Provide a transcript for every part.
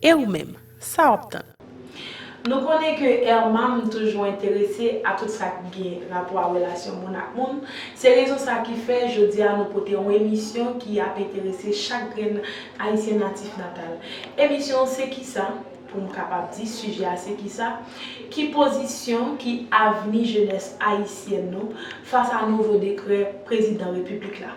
E ou menm, sa wap tann? Nou konnen ke Ermam toujou enterese a tout sa k gen rapò a relasyon moun ak moun, se rezon sa ki fè jodi a nou pote yon emisyon ki ap enterese chak grenn Ayisyen natif natal. Emisyon Se Kisa, pou m kapab di sijè a se kisa, ki pozisyon, ki avni jenès ayisyèn nou fas a nouvo dekrè Prezidan Repiblik la?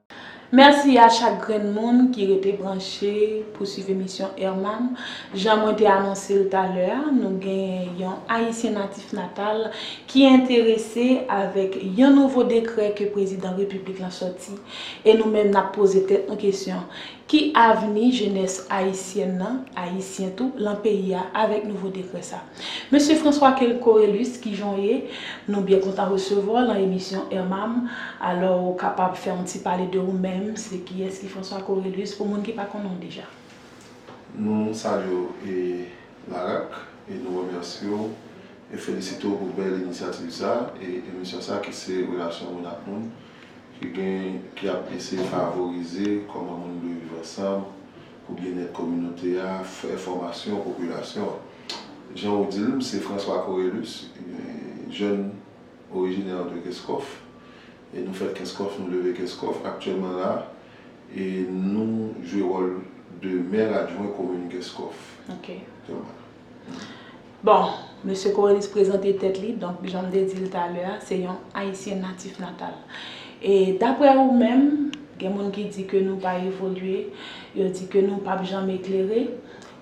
Mèsi a chak grenn moun ki rete branche pou swiv emisyon Herman. Jan mwen te anonse l talè a, nou genyen yon Ayisyen natif natal ki enterese avèk yon nouvo dekrè ke Prezidan Repiblik lan sòti e nou menm n ap poze tèt nou kesyon, ki avni jenès ayisyèn lan, ayisyen tou, lan peyi a avèk nouvo dekrè sa? Mesye François Coelus kijan w ye? Nou byen kontan resevwa w lan emisyon RMAM, alò ou kapab fè yon ti pale de ou menm, se kiyès ki François Coelus pou moun ki pa konnen w deja? Nou salye w e Larak e nou remèsye w e felisite w pou bèl inisyativ sa e emisyon sa ki se relasyon moun ak moun ki gen ki ap eseye favorize kòman moun dwe viv ansanm pou byennèt kominote a fè fòmasyon popilasyon an. Jan ou di l, m se François Corelus, jèn orijinè de Kenskòf. E nou fèt Kenskòf, nou leve Kenskòf. Aktyèlman la, e nou jwe wòl de mè adjwen komin Kenskòf. Ok. Bon, Mesye Corelus prezante tèt li, donk jan m te di l talè a, se yon Ayisyen natif natal. E daprè ou menm, gen moun ki di ke nou pa evolye, yo di ke nou p ap janm eklere.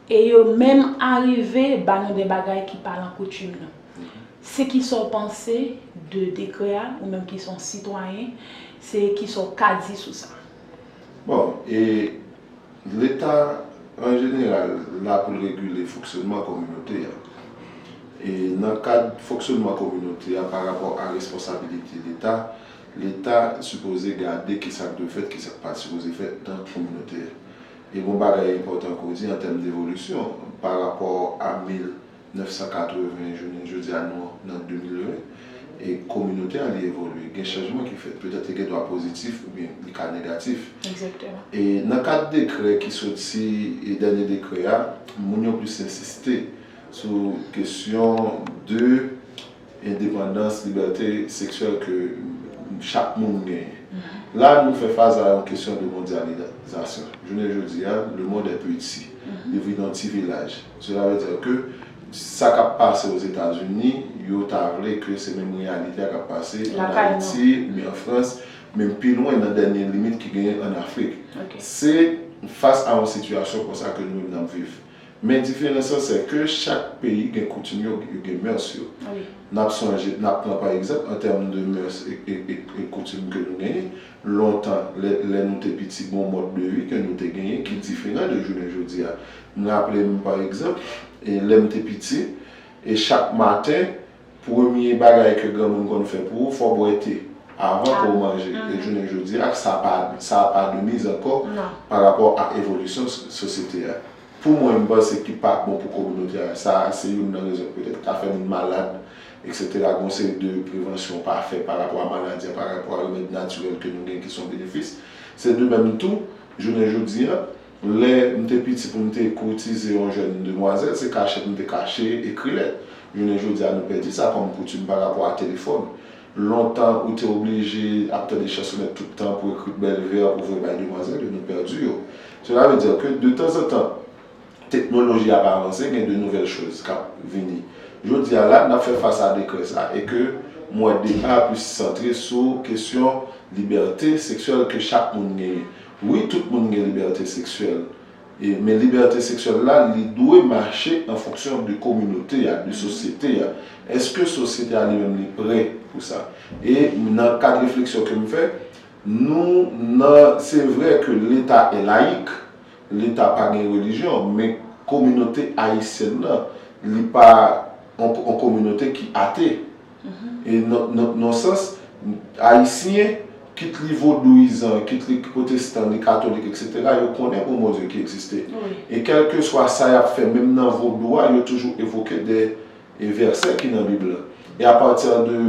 E yo menm arive ba nou de bagay ki pa lan koutim nou. Se ki sa w panse de dekrè a, ou menm ki se yon sitwayen, se ki sa w ka di sou sa? Bon, e Leta an jeneral la pou l regile fonksyonman kominote a. E nan kad fonksyonman kominote a pa rapò a responsabilite Leta, Leta sipoze gade ki sa k dwe fèt, ki sa k pa sipoze fèt nan kominote a. E gon bagay enpòtan ke w di an tèm devolisyon, pa rapò a 1980 jounen jodi a nou nan 2020, e kominote a li evolye, gen chanjman ki fèt, petèt li gen dwa pozitif oubyen li ka negatif. E nan kad dekrè ki soti, dènye dekrè a, moun yo plis ensiste sou kesyon de. Endepandans, libète seksyèl ke chak moun genyen. La nou fè fas a yon kesyon de mondyalizasyon. Jounen jodi a, le mond è peti. Yo viv nan ti vilaj. Sela vle dire ke sa k ap pase o Zetazini, yo ta vle ke se menm reyalite a k ap pase an Ayiti oubyen an Frans, menm pi lwen nan dènye limit ki genyen an Afrik. Se fas a yon sitiyasyon konsa ke nou menm n ap viv. Men diferans lan sè ke chak peyi gen koutim yo, yo gen mœurs yo. Nap sonje, nap pran pa egzanp an tèm de mœurs e koutim ke nou genyen, lontan lè lè nou te piti gon mòd de vi ke nou te genyen ki diferan de jounen jodi a. M raple m pa egzanp e lèm te piti e chak maten Premye bagay ke granmoun konn fè pou ou, fò bwè te, avan ke ou manje. E jounen jodi a, sa pa, sa a pa de miz ankò, pa rapò a evolisyon sosyete a. Pou mwen, m panse ki pa bon pou kominote a, sa a se youn nan rezon ki petèt ka fè moun malad, eksetera. Gon seri de prevansyon pa fè pa rapò a maladi a, pa rapò a remèd natirèl ke nou gen ki son benefis. Se de menm tou, jounen jodi a, Lè m te piti pou m te kourtize yon jèn demwazèl, se kachèt m te kache ekri lèt. Jounen jodi a nou pèdi sa kòm koutim pa rapò a telefòn. Lontan ou te oblije ap tande chansonèt tout tan pou ekri bèl vè pou voye bay demwazèl yo, nou pèdi yo. Sela ve dire ke de tanzantan teknoloji ap avanse gen de nouvèl choz kap vini. Jodi a la n ap fè fas a dekrè sa e ke m wè deba a plis santre sou kesyon libète seksyèl ke chak moun genyen. Wi tout moun gen libète seksyèl e men libète seksyèl la li dwe mache an fonksyon de kominote a, de sosyete a. Eske sosyete a li menm li prè pou sa? E nan kad refleksyon ke m fè, nou nan se vre ke leta e layik, leta pa gen relijyon men kominote ayisyèn nan li pa yon kominote ki ate. E nan sans, Ayisyen, kit li vodouyizan, kit li pwotestan, li katolik eksetera, yo konnen gon Bondye ki egziste. E kèlkeswa sa y ap fè, menm nan vodou a, yo toujou evoke de vèsè ki nan Bib lan. E apati de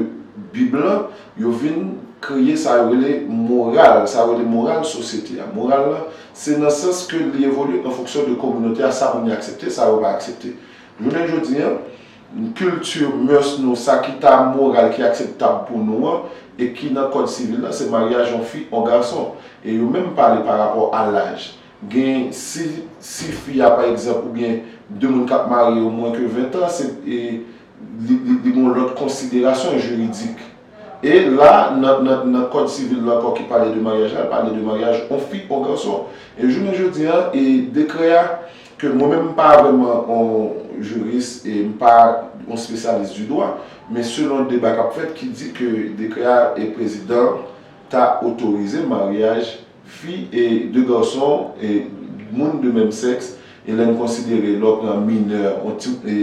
Bib lan, yo vin kreye sa yo rele moral, sa yo rele moral sosyete a. Moral lan, se nan sans ke li evolye an fonksyon de kominote a, sa moun yo aksepte, sa yo pa aksepte. Jounen jodi a, N. Culture, mœurs nou, sa ki ta moral, ki akseptab pou nou an, e ki nan kòd sivil la, se maryaj yon fi, yon gason. E yo menm pale pa rapò a laj. Gen, si, si fi a, pa egzanp, oubyen, de moun k ap marye yo mwen ke ventan, se, e, li, li gen yon lòt konsiderasyon jiridik. E la, nan kòd sivil la ankò ki pale de maryaj la, l pale de maryaj yon fi, yon gason. E jounen jodi a, e dekrè a, ke mwen menm m pa vrèman yon jiris e m pa yon spesyalis di dwa, men selon deba k ap fèt ki di ke dekrè a e prezidan an ta otorize maryaj fi e de gason e moun de menm sèks e lè n konsidere lè w pran minè yon ti e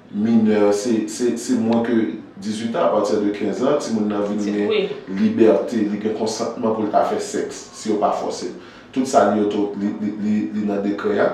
Minè, se, se, se mwen ke dizwit an, a pati de kenz an, timoun nan vin gen libète, li gen konsantman pou l ta fè sèks, si yo pa fòse l. Tout sa li oto, li, li, li, li nan dekrè a.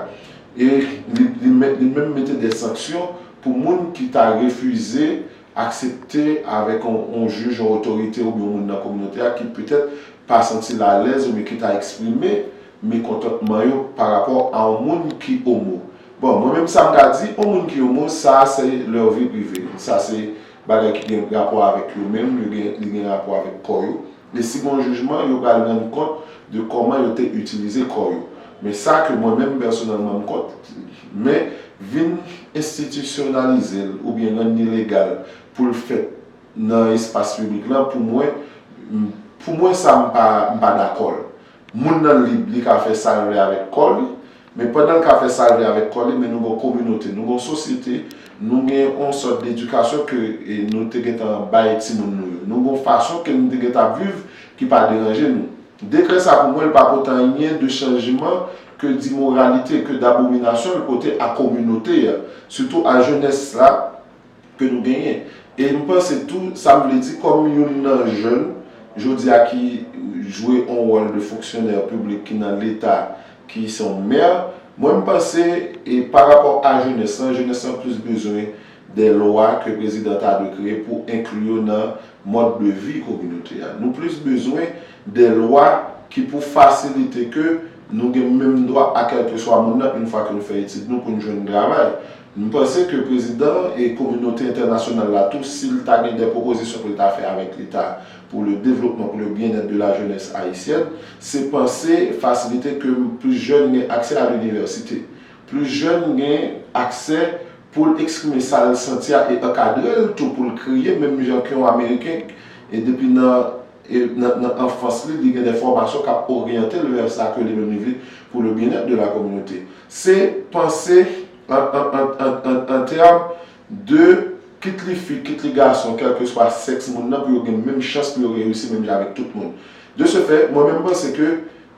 E li, li men, li menm mete de sanksyon pou moun ki ta refize aksepte avèk yon, yon jij, yon otorite oubyen yon moun nan kominote a ki petèt pa santi l alèz oubyen ki ta eksprime mekontantman yo pa rapò a on moun ki omo bon mwen menm sa m ka di on moun ki omo sa a se lèur vi prive sa se bagay ki gen rapò avèk yo menm yo gen li gen rapò avèk kò yo e si gon jijman yo pral rann kont de kòman yo te itilize kò yo men sa ke mwen menm pèsonèlman m kont men vin enstitisyonalize l oubyen rann ni legal pou l fèt nan espas piblik lan pou mwen m pou mwen sa m pa m pa dakò l. Moun nan lib, li ka fè sa l vle avèk kò li, men pandan l ka fè sa l vle avèk kò li, men nou gen yon kominote, nou gen yon sosyete, nou gen yon sòt dedikasyon ke nou te gentan bay timoun nou yo. Nou gen yon fason ke nou te gentan ap viv ki pa deranje nou. Dekrè sa pou mwen l pa pote anyen de chanjman ke dimoralite, ke dabominasyon l pote a kominote a, sitou a jenès la, ke nou genyen. E m panse tou, sa m vle di kòm youn nan jèn jodi a ki jwe yon wòl de fonksyonè piblik ki nan leta ki se yon mè, mwen m panse e pa rapò a jenès lan, jenès lan plis bezwen dè lwa ke prezidan ta dwe kreye pou enkli yo nan mòd de vi kominote a. Nou plis bezwen dè lwa ki pou fasilite ke nou gen menm dwa a kèlkeswa moun nan, youn fwa ke nou fè etid nou pou n jwenn travay. M panse ke prezidan an e kominote entènasyonal la tou si l ta gen dè pwopozisyon pou l ta fè avèk leta pou le devlopman, pou le byennèt de la jenès ayisyèn, se panse fasilite ke plis jèn gen aksè a linivèsite, plis jèn gen aksè pou l eksprime sa l santi a e ankadre l tou pou l kreye menm jan ke yon ameriken e depi nan. E nan anfans li, li gen dè fòmasyon k ap oryante l vè sa ke li menm li vle pou le byenèt de la kominote. Se panse an tèm de kit li fi, kit li gason, kèlkeswa sèks moun nan pou yo gen menm chans pou yo reyisi menm jan avèk tout moun. De se fè, mwen menm m panse ke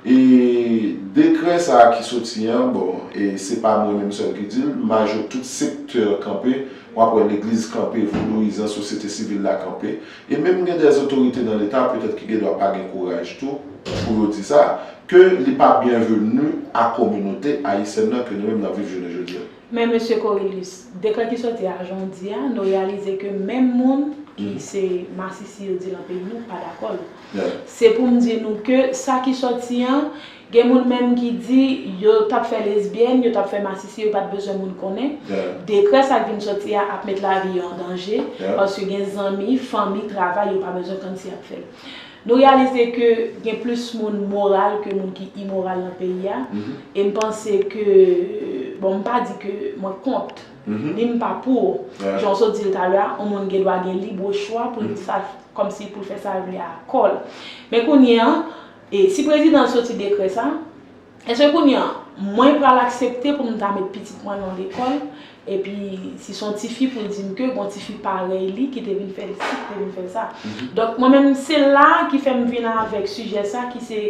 E dekrè sa a ki soti an, bon, e se pa mwen menm sèl ki di l, majo tout sektè kanpe, w ap wè legliz kanpe, vodouyizan, sosyete sivil la kanpe, e menm gen dè zotorite nan leta, petèt ki gen dwa pa gen kouraj tou pou yo di sa, ke li pa byenveni a kominote ayisyèn nan ke nou menm n ap viv jounen jodi a. Men Mesye Corelus, dekrè ki sòti a jan w di a, nou reyalize ke menm moun ki se masisi yo di lan peyi nou pa dakò l. Se pou m di nou ke sa ki sòti an, gen moun menm ki di yo t ap fè lesbyèn, yo t ap fè masisi, yo pa t bezwen moun konnen. Dekrè sa k vin sòti a ap met lavi yo an danje, paske gen zanmi, fanmi, travay yo pa bezwen konn si y ap fè l. Nou reyalize ke gen plis moun moral ke moun ki imoral nan peyi a, e m panse ke, bon m pa di ke mwen kont, ni m pa pou, jan w sot di l talè a, yon moun gen dwa gen libre chwa pou l di sa, kòm si pou l fè sa l vle a kò l. Men kounye a, si prezidan an soti dekrè sa, Èske kounye a, mwen pral aksepte pou m ta met pitit mwen nan lekòl, epi si se yon tifi pou l di m ke gen yon tifi parèy li ki te vin fè l si, ki te vin fè l sa? Donk, mwen menm, se la a ki fè m vin avèk sijè sa ki se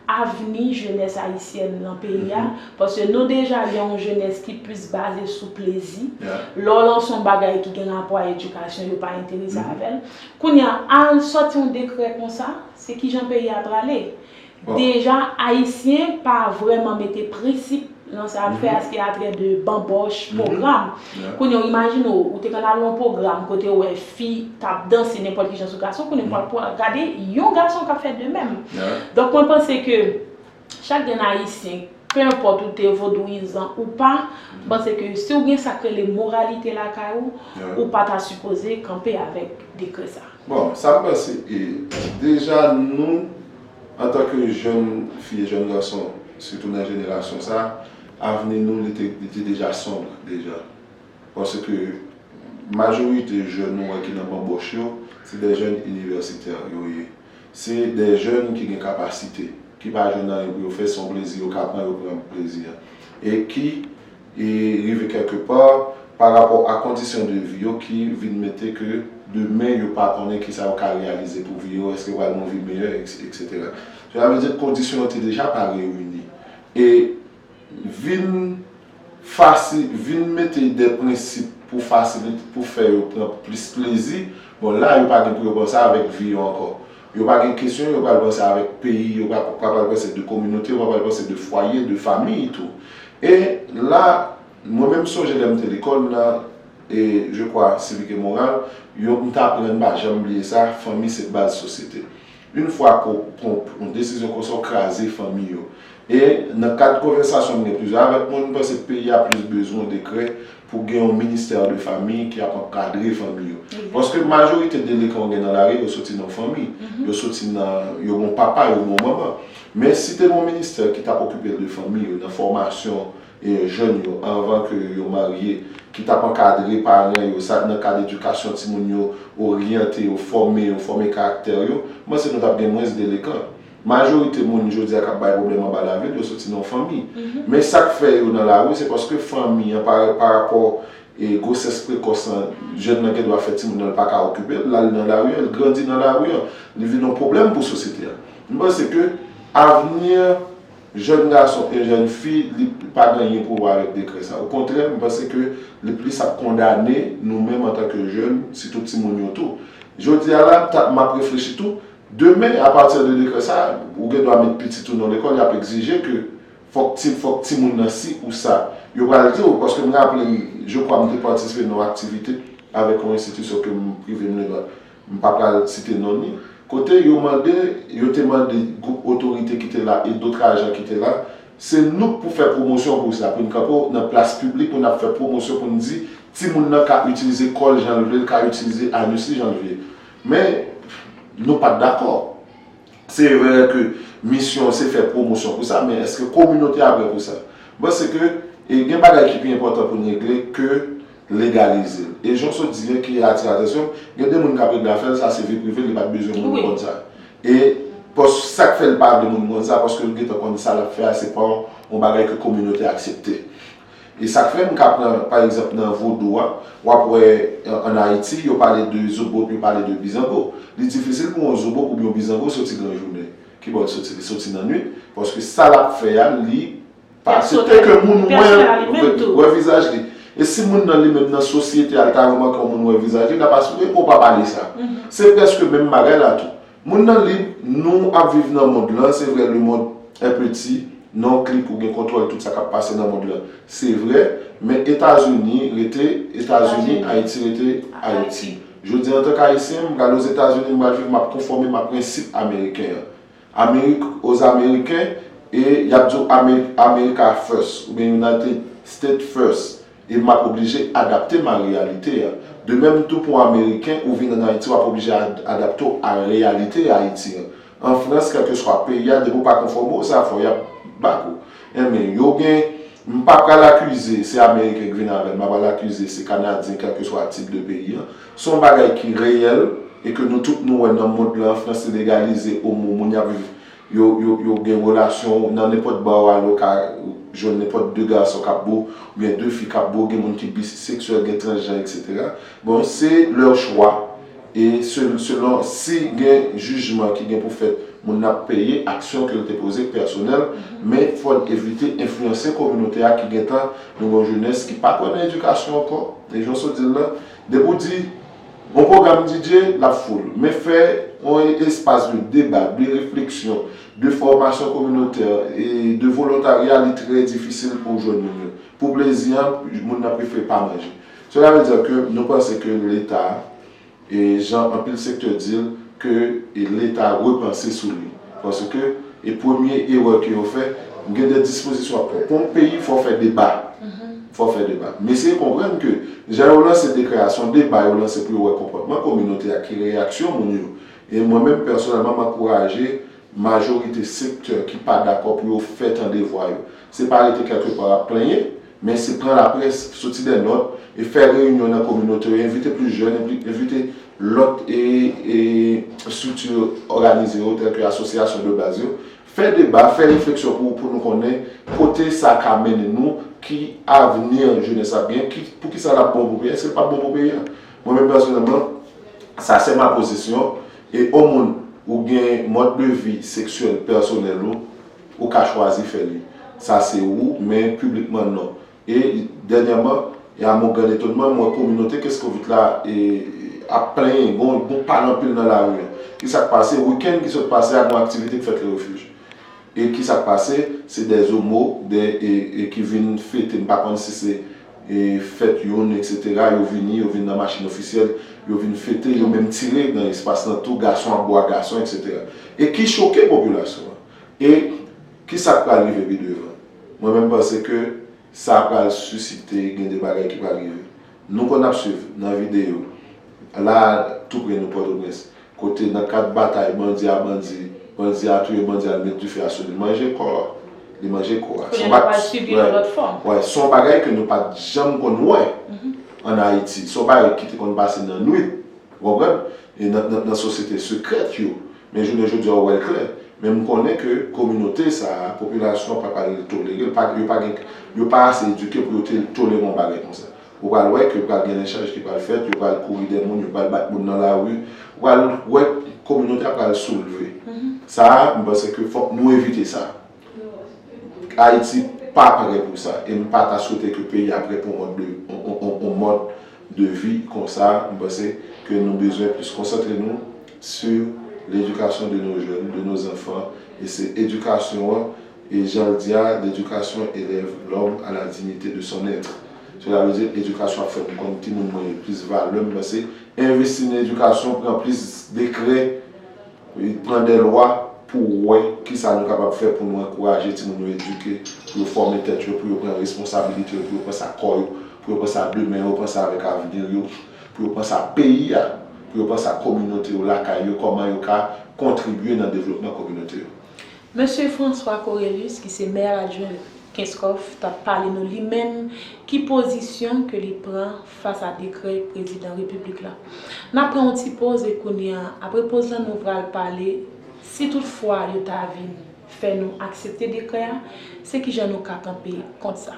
avni jenès ayisyèn nan peyi a, paske nou deja gen yon jenès ki plis baze sou plezi, lè w lanse yon bagay ki gen rapò a edikasyon, yo pa enterese avè l. Kounye a, al sòti yon dekrè konsa, se kijan peyi a prale? Deja Ayisyen pa vrèman mete prensip nan sa y ap fè a, s ki atrè de banbòch, pwogram. Kounye w imajine w, ou te konn al nan yon pwogram kote ou wè fi k ap danse nenpòt ki jan sou gason, kounye w ap pral gade yon gason k ap fè de menm. Donk mwen panse ke chak grenn Ayisyen, pe enpòt ou te vodouyizan ou pa, m panse ke si w gen sa k rele moralite lakay ou, ou pa ta sipoze kanpe avèk dekrè sa. Bon, sa m panse, deja nou. Antanke jèn fi e jèn gason, sitou nan jenerasyon sa, avni nou li te li te deja sonb deja. Paske majorite jèn nou wè ki nan banbòch yo, se dè jèn inivèsitè yo ye. Se dè jèn ki gen kapasite, ki pa jwenn anyen pou yo fè, se yon plezi yo ka pran, yo pran plezi a. E ki. e rive kèlke pa pa rapò a kondisyon de vi yo ki vin mete ke demen yo pa konnen ki sa yo ka reyalize pou vi yo, èske yo pral gen yon vi meyè, eksetera. Sela vle di ke kondisyon yo te deja pa reyini e vin fasi, vin mete de prensip pou fasilite, pou fè yo pran plis plezi, bon la yo pa gen pou yo pran sa avèk vi yo ankò. Yo pa gen kesyon, yo pral panse avèk peyi, yo pa pral panse de kominote, yo pa pral panse de fwaye, de famiy tou. E la, mwen menm m sonje lè m te lekòl nan, e je kwa sivik e moral, yo m t aprann m pa janm bliye sa, fanmi se baz sosyete. Yn fwa ke w pran yon desizyon konsa w kraze fanmi yo. E nan kad konvèsasyon m gen plizyè avèk moun, m panse peyi a plis bezwen dekrè pou gen yon ministère de famille ki ap ankadre fanmi yo. Paske majorite delekan ou gen nan lari yo soti nan fanmi. Yo soti nan, yo gen yon papa, yo gen yon manman. Men si te gen yon ministè ki tap okipe de fanmi yo nan fòmasyon jèn yo anvan ke yo marye, ki tap ankadre paran yo sa nan kad edikasyon timoun yo, oryante yo, fòme yo, fòme karaktè yo, m panse nou tap gen mwens delekan. Majorite moun jodi a k ap bay pwoblèm anba lavil yo soti nan fanmi. Men sa k fè yo nan lari se paske fanmi an parapò gwosès prekòs lan jèn nan gen dwa fè timoun nan l pa ka okipe l, l al nan lari an, l grandi nan lari an, li vin yon pwoblèm pou sosyete a. M panse ke avni jèn gason e jèn fi li pa gen anyen pou wè avèk dekrè sa. Okontrè m panse ke li plis ap kondane nou menm antanke jèn sitou timoun yo tou. Jodi a la m ta m ap reflechi tou. Demen, a partir de dekrè sa, ou gen dwa met pitit ou nan lekòl, y ap egzije ke fòk ti fòk timoun nan si ou sa. Yo pral di ou, paske m raple m, je kwa m te patisipe nan yon aktivite avèk yon enstitisyon ke m prive m legal, m pa pral site non ni, kote yo mande, yo te mande gwoup otorite ki te la e dotr ajan ki te la, se nou k pou fè pwomosyon pou sa, pou n kanpe w nan plas piblik pou n ap fè pwomosyon pou n di timoun nan ka itilize kò l jan l vle, l ka itilize anus li jan l vie. Men, nou pa t dakò. Se vre ke misyon an se fè pwomosyon pou sa, men èske kominote a prè pou sa? M panse ke gen bagay ki pi enpòtan pou n regle ke legalize l. E jan w sot di a ki atire atansyon m, gen de moun k ap regle afè l, sa se vi prive l, li pa t bezwen moun konn sa. E sa k fè l pa vle moun konn sa, paske l gentan konn sa l ap fè a se pa yon bagay ke kominote a aksepte. E sa k fè m ka pran pa egzanp nan vodou a, w ap wè ann Ayiti yo pale de zobot, yo pale de bizango. Li difisil pou yon zobot oubyen yon bizango soti gran jounen. Ki bò l soti? Li soti nan nuit. Paske sa l ap fè a, li pa aksepte ke moun wè l, wè vizaj li. E si moun nan li menm nan sosyete a, li ta remake yon moun wè vizaj li, l ap asire ke w pa pale sa. Se prèske menm bagay la tou. Moun nan lib, nou ap viv nan mond lan, se vre le monde est petit, nan yon klik ou gen kontwòl tout sa kap pase nan mond lan, se vre, men Etazini rete Etazini, Ayiti rete Ayiti. Jodi a antank Ayisyen, m pral Ozetazini, m pral viv, m ap konfòme m a prensip ameriken an. Amerik aux Américains e y ap di w Amerik America first oubyen United States first, e m ap oblije adapte m a reyalite a. De menm tou pou Ameriken, ou vin ann Ayiti w ap oblije adapte w a reyalite Ayiti an. An Frans, kèlkeswa peyi a, depi ou pa konfòme w, sa fò y ap bak ou. Enben, yo gen, m pa pral akize se Ameriken ki vin avè l, m pa pral akize se Kanadyen, kèlkeswa tip de peyi an. Se yon bagay ki reyèl e ke nou tout nou wè nan mond lan, an Frans li legalize omo, moun y ap viv yo gen relasyon nan nenpòt bar ou ale ou ka jwenn nenpòt 2 gason kap bo oubyen 2 fi kap bo gen moun ki biseksyèl gen transjan etc bon se lè chwa e selon si gen jijman ki gen pou fèt moun nan ap peye aksyon kel te poze k pèsonèl men fòn evite enfliyanse kominote a ki gentan nou gen yon jenès ki pa kwè nan edikasyon ankò e jan w sot di l lan depi w di Bon program DJ lap full. Men fè yon espas de deba, de refleksyon, de fòmasyon kominotè e de volontarya li trè difisil pouw jwenn moun yo. Pou plezi an, moun nan prefere pa manje. Cela veut dire que nou panse ke leta, jan anpil sektè dil, ke leta repanse sou li. Paske e premye erè ke yo fè, m gen de dispozisyon wap pran. Pou yon peyi fò w fè deba. Fò w fè deba. M eseye konprann ke jan yo lanse dekrè a, se yon deba yo lanse pou yo wè konpòtman kominote a, ki reyaksyon moun yo. E mwen menm pèsonèlman m ankouraje majorite sektè ki pa dakò pou yo fè tande vwa yo. Se pa rete kèlkepar ap plenyen, Men se pran laprès, soti dè nòt, e fè reyinyon nan kominote yo, envite plis jèn, envite lòt estrikti òganize yo tèlke asosyasyon de baz yo, fè deba, fè refleksyon pou nou konnen kote sa ka mennen nou, ki avni jenès ap gen, poukisa l ap bon pou peyi a, èske l pap bon pou peyi a. Mwen menm pèsonèlman, sa se ma pozisyon, e o moun ou gen mòd de vi seksyèl pèsonèl ou, Ou ka chwazi fè li. Sa se ou, men piblikman non. E, dènyèman, e a mon gran etonman, m wè kominote Kescovit la e ap plenyen, gon gon pale anpil nan lari an. Ki sa k pase? Wikenn ki sot pase a, gon aktivite k fèt Le Refuge. E ki sa k pase? Se dè zomo, dè e e ki vin fete, m pa konn si se e fèt youn eksetera, yo vini, yo vin nan machin ofisyèl, yo vin fete, yo menm tire nan espas lan tou, gason ap bo ak gason eksetera. E ki choke popilasyon an. E ki sa k pral rive pi devan? Mwen menm panse ke sa pral sisite gen de bagay ki pral rive. Nou konn ap swiv nan videyo, la a tou pre nou Pòtoprens, kote nan kad batay bandi a bandi, bandi a touye bandi a li met dife a sou li, li manje kò a, li manje kò a. Kounye a nou pral sibi yon lòt fòm. Wè, se yon bagay ke nou pa t janm konn wè ann Ayiti. Se yon bagay ki te konn pase nan nwit, ou konprann, nan sosyete sekrèt yo. Men jounen jodi a ou wè l klè. Men m konnen ke kominote sa a, popilasyon an pap al tolere l, pa yo pa gen, yo pa ase edike pou yo te tolere yon bagay konsa. Ou pral wè ke pral gen lenchaj ki pral fèt, yo pral kouri dè moun, yo pral bat moun nan lari, ou pral wè kominote a pral soulve. Sa a, m panse ke fòk nou evite sa. Ayiti pa pare pou sa e m pa ta swete ke peyi a pare pou yon mòd de vi konsa. M panse ke nou bezwen plis konsantre nou su ledikasyon de nos jeunes, de nos enfants e se edikasyon an e jan l di a, L'education elève l'homme à la dignité de son être. Sela vle di edikasyon ap fè m konn ki moun mwen ye, plis valè m panse envesti nan edikasyon pran plis dekrè. Pran de lwa pou w wè ki sa nou kapab fè pou nou ankouraje timoun yo edike, pou yo fòme tèt yo, pou yo pran responsabilite yo, pou yo pran sa kò yo, pou yo pran sa demen yo, pran sa avèk avni yo, pou yo pran sa peyi a, pou yo pran sa kominote yo, lakay yo, kòman yo ka kontribye nan devlopman kominote yo. Mesye François Corelus ki se Maire Adjoint Kenskòf tap pale nou li menm ki pozisyon ke li pran fas a dekrè Prezidan Repiblik la. Nap pran yon ti poz e kounya apre poz lan nou pral pale si tout fwa yo ta vin fè nou aksepte dekrè a se kijan nou ka kanpe kont sa.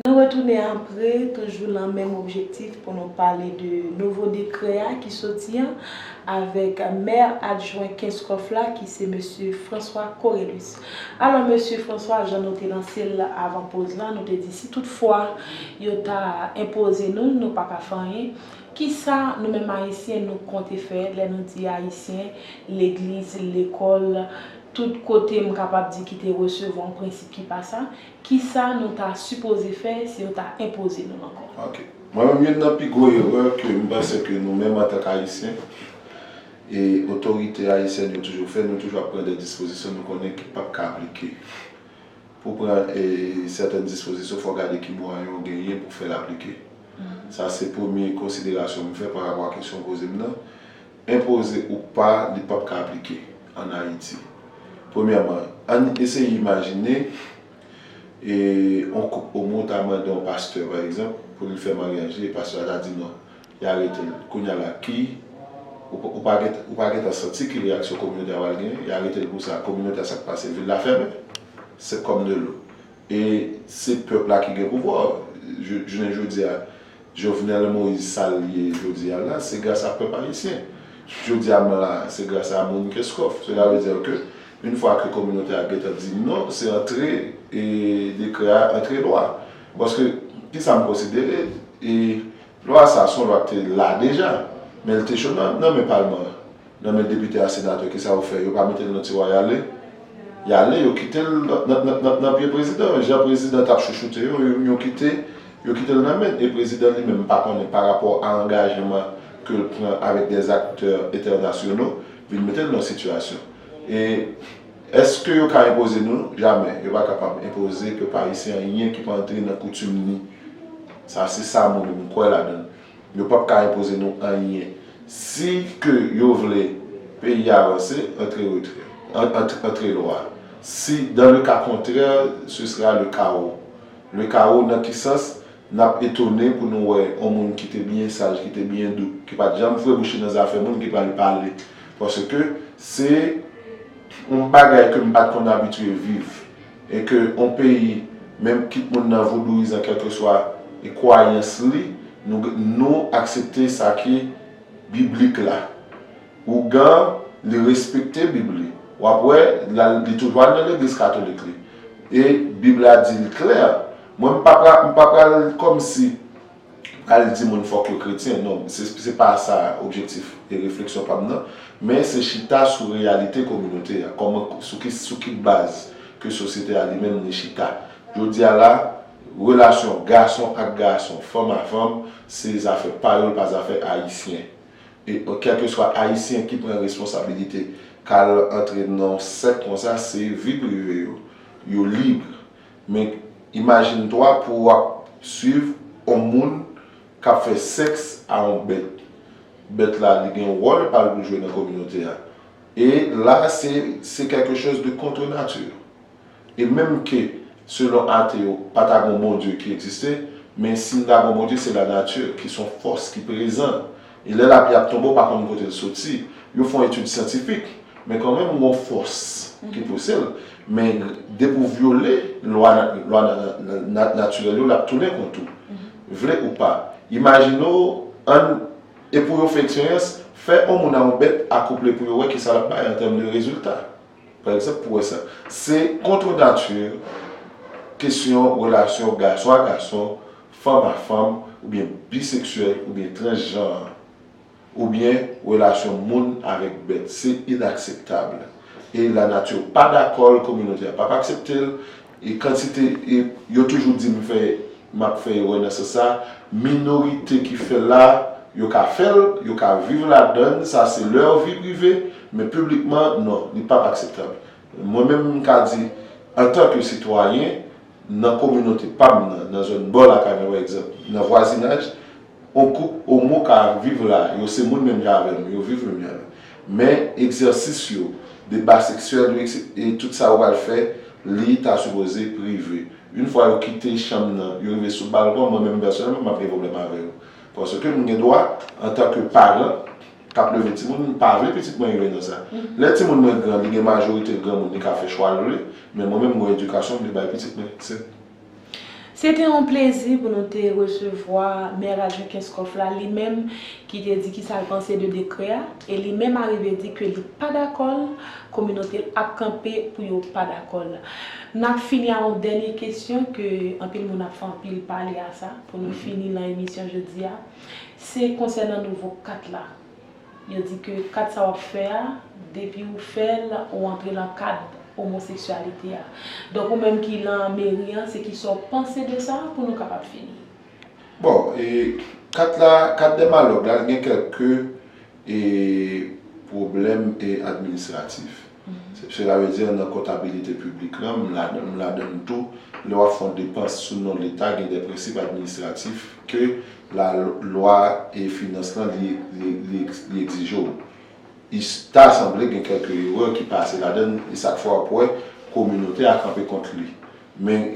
Nou retounen apre, toujou lan menm objektif pou nou pale de nouvo dekrè a ki soti an, avèk mè adjwen Kenskòf la ki se mesye François Corelus. Alò mesye François, jan nou te lanse l avan poz lan, nou te di si tout fwa yo ta enpoze nou l, nou pa ka fè anyen, kisa nou menm Ayisyen nou konte fè, lè nou di Ayisyen, legliz, lekòl, tout kote m kapab di ki te resevwa yon prensip ki pa sa, Kisa nou ta sipoze fè si yo ta enpoze nou ankò? Ok. Mwen menm youn nan pi gwo erè ke m panse ke nou menm antank Ayisyen e otorite ayisyèn yo toujou fè, nou toujou ap pran dè dispozisyon nou konnen ki pap ka aplike. Pou w pran sètèn dispozisyon fò w gade ki mwayen w genyen pou w fè l aplike. Sa se premye konsiderasyon m fè parapò a kesyon w poze m nan. Enpoze ou pa, li pap ka aplike an Ayiti. Premyèman, ann eseye imajine yon koup omo ta mande yon pastè, pa egzanp, pou li fè maryaj li e pastè a ta di non, li arete l. Kounye a la, ki, ou pa gen, ou pa gen tan santi ki reyaksyon kominote a pral genyen? Y arete l pou sa. Kominote a, sa k pase? Vil la fèmen? Sèk kòm de lou. E se pèp la ki gen pouvwa. Jounen jodi a. Jovenel Moïse sa l ye jodi a la, se gras a pèp ayisyen. Jodi a m la, se gras a moun Kenscoff. Sela ve dire ke une fwa ke kominote a gentan di non, se antre dekrè a, antre lwa. Paske, ki sa m konsidere, lwa sa son lwa ki te la deja, men li te cho nan men palman an. Nan men depite a senatè kisa yo fè yo pa metel nan tiwa yale yale yo kitel nan pye prezidan jan prezidan tap chouchoute yo yo kite yo kitel nan menn e prezidan li menm m pa konnen pa rapò a angajman kel pran avèk dè zaktè entènasyono vin metel nan sitiyasyon e eske yo ka enpoze nou jamè yo pa kapab enpoze pèp ayisyen anyen ki pa antre nan koutim ni sa se sa mwen menm m kwè ladann. Yo pap ka enpoze nou anyen. Si ke yo vle peyi a vanse, antre retrè. Antre lwa. Si dans le cas contraire, ce sera le chaos. Le chaos nan ki sans? Nap etone pou nou wè on moun ki te byen saj, ki te byen dou, ki pat janm fwe bouch li nan zafè moun ki pral pale. Paske se on bagay ke m pat konn abitye viv. E ke yon peyi, menm kit moun nan vodouizan kèlkeswa e kwayans li, nou nou aksepte sa ki biblik la. Ougan, li respekte bib li. W ap wè, l al, li toujou al nan legliz katolik li. E bib la di l klè. Mwen m pa pra, m pa pral kòmsi pral di moun fòk yo kretyen non se pa sa objektif e refleksyon pam nan men se chita sou reyalite kominote a kòman sou ki baz ke sosyete a li menm li chita jodi a la relasyon gason ak gason fanm a fanm se zafè pa yo l pa zafè ayisyen e kèlkeswa ayisyen ki pran responsabilite kal antre nan yon sèk konsa se vi prive yo yo libre. Men imajine toi pou ou ap swiv on moun kap fè sex a on bèt. Bèt la li gen wòl pal pou jwe nan kominote a. E la se se quelque chose de contre nature. E menm ke selon ate yo pa ta gon Bondye ki egziste, men si n ta gon Bondye se la nature ki son fòs ki prezan. E lè lapli ap tonbe ou pa konn kote l soti. Yo fon etid syantifik, men kanmenm gon fòs ki pouse l. Men depi ou vyole lwa natirèl yo l ap tounen kont ou. Vle ou pa. Imajine w, ann, e pou yo fè eksperyans, fè on moun a on bèt akouple pou yo wè kisa l ap bay an tèm de rezilta. Pa egzanp, pou wè sa. Se contre nature kesyon relasyon gason a gason, fanm a fanm, oubyen biseksyèl oubyen transjan an, oubyen relasyon moun avèk bèt. Se inakseptab. E lanati pa dakò l, kominote a pap aksepte l. E kantite e, yo toujou di m fè, m ap fè erè nan sans sa, minorite ki fè l la, yo ka fè l, yo ka viv ladan l, sa se leur vie privée, men piblikman, non, li p ap akseptab. Mwen menm m ka di, antan ke sitwayen, nan kominote pa m nan, nan zòn bò lakay mwen pa egzanp, nan vwazinaj, On koup omo ka ap viv la, yo se moun menm jan avè m, yo viv menm jan. Men, egzèsis yo, deba seksyèl yo ekse, e tout sa yo pral fè, li ta sipoze prive. Yn fwa yo kite chanm nan, yo rive sou balkon, mwen menm pèsonèlman m ap gen pwoblèm avè yo. Paske m gen dwa, antanke paran k ap leve timoun, m pa vle pitit mwen rive nan sa. Lè timoun mwen gran, li gen majorite l granmoun, li ka fè chwa l vle, men mwen menm m gon edikasyon m vle bay pitit mwen. Se. Se te yon plezi pou nou te resevwa Mè Ralphin Kenscoff la, li menm ki te di kisa l panse de dekrè a, e li menm arive di ke li pa dakò l, kominote l ap kanpe pou yo pa dakò l. N ap fini a yon dènye kesyon ke anpil moun ap fè anpil pale a sa pou nou fini lan emisyon jodi a, se konsènan nouvo kat la. Yo di ke kad sa wap fè a, depi ou fèl, ou antre lan kad omoseksyalite a. Donk ou menm ki lan meri an, se kisa w panse de sa, pou nou kapab fini? Bon, e kad la, kad dèmalòg la, l gen kèlke e pwoblèm e administratif. Se ta vle di nan kontabilite piblik lan, m ladan l tou, lè w ap fè yon depans sou non leta gen de prensip administratif ke lalwa e finans lan li egzije w. Li ta sanble gen kèlke erè ki pase ladan l e sa k fè w ap wè kominote a kanpe kont li. Men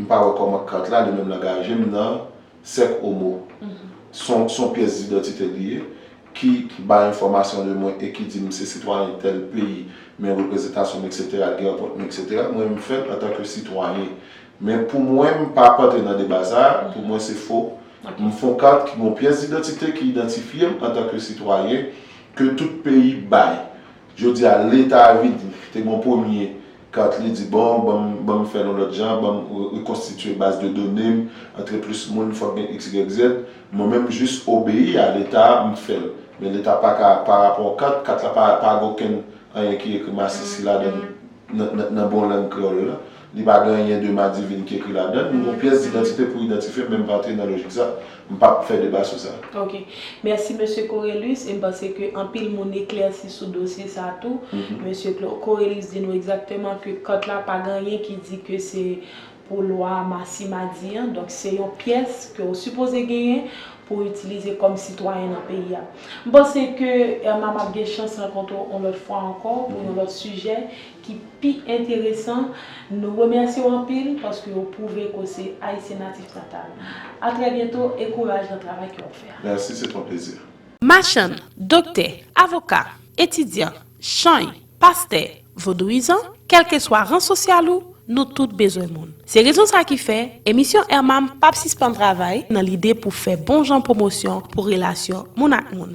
m pa wè kòman kat la li menm l angaje m nan Sèk Omo, s on pyès didantite li ye, ki bay enfòmasyon de mwen e ki di m se sitwayen tèl peyi, men reprezantasyon m eksetera gen anpòt mwen eksetera, mwen m fè l antanke sitwayen. Men pou mwen m pa ap antre nan deba sa a, pou mwen se fo. M fon kat ki gen yon pyès didantite ki idantifye m antanke sitwayen ke tout peyi bay. Jodi a leta vin te gen yon premye. Kartely di bon, banm banm fèl yon lòt jan, banm rekonstitye baz de done m, antre plis moun, fòk gen xyz. Mwen menm jis obeyi a leta a, m fèl. Men leta pa ka pa rapò kat, kat la pa pa gen okenn anyen ki ekri masisi ladan l nan nan nan bon lang kreyòl la. Li pa gen anyen de madivin ki ekri ladan l. M gen yon pyès didantite pou idantifye m men m pa antre nan lojik sa. M pa p fè deba sou sa. Ok. Mèsi Mesye Corelus e m panse ke anpil moun eklèsi sou dosye sa tou. Mesye Corelus di nou egzakteman ke kòt la pa gen anyen ki di ke se pou lwa Massima di an. Donk se yon pyès ke ou sipoze genyen pou w itilize kòm sitwayen nan peyi a. M panse ke Irma m ap gen chans rankontre w yon lòt fwa ankò pou yon lòt sijè ki pi enteresan, nou remèsye w anpil paske ou pwouve ke w se Ayisyen natif natal. A trè byento e kouraj nan travay ke w ap fè a. Merci, c'est un plaisir. Machann, doktè, avoka, etidyan, chany, pastè, vodouyizan, kèlkeswa ran sosyal ou, nou tout bezwen moun. Se rezon sa ki fè, emisyon Ermanm pap sispann travay nan lide pou fè bon jan pwomosyon pou relasyon moun ak moun.